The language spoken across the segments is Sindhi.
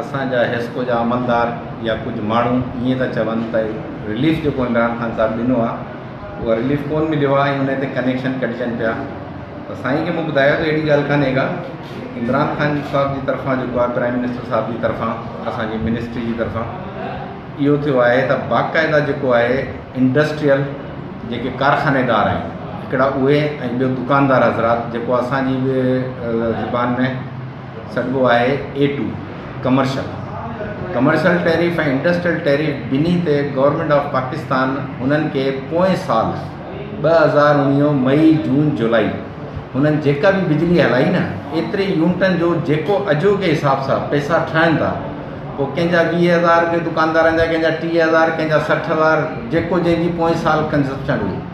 اسان جا حيسڪو جا عملدار يا ڪجهه ماڻهو ائين ٿا چون ته رليف جيڪو عمران خان صاحب ڏنو آهي اهو رليف ڪونه مليو آهي ۽ ان تي ڪنيڪشن ڪٽجن پيا ته سائين کي مون ٻڌايو ته اهڙي ڳالهه ڪانهي ڪا عمران خان صاحب جي طرفان جيڪو آهي پرائم منسٽر صاحب جي طرفان اسانجي منسٽري جي طرفان اهو ٿيو آهي ته باقاعده جيڪو آهي انڊسٽريل جيڪي ڪارخانيدار آهن هڪڙا اهي ۽ ٻيو دڪاندار حضرات جيڪو اسانجي زبان ۾ سگهبو آهي A two, commercial, commercial tariff ۽ industrial tariff ٻنهي تي گورنمينٽ آف پاڪستان هنن کي پوئين سال ٻه هزار اڻويهه مئي جون جولائي هنن جيڪا به بجلي هلائي نه ايتري يونٽن جو جيڪو اجهو جي حساب سان پئسا ٺهن ٿا پوء ڪنهن جا ويهه هزار رپيا دڪاندارن جا ڪنهن جا ٽيهه هزار ڪنهن جا سٺ هزار جيڪو جنهن جي پوئين سال ڪنزپشن هئي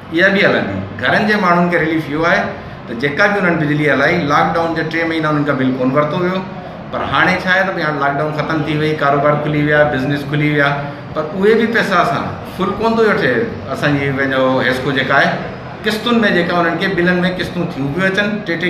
اها به هلندي، گهرن جي ماڻهن کي رليف اهو آهي ته جيڪا به انهن بجلي هلائي، لاڪ ڊائون جا ٽي مهينا انهن کان بل ڪونه ورتو ويو، پر هاڻي ڇا آهي ته ڀئي هاڻي لاڪ ڊائون ختم ٿي وئي، ڪاروبار کلي ويا، بزنيس کلي ويا، پر اهي به پئسا اسان فل ڪونه ٿو وٺي، اسان جي پنهنجو حيسڪو جيڪا آهي قسطن ۾ جيڪا انهن کي بلن ۾ قسطون ٿيون پيون اچن، ٽي ٽي.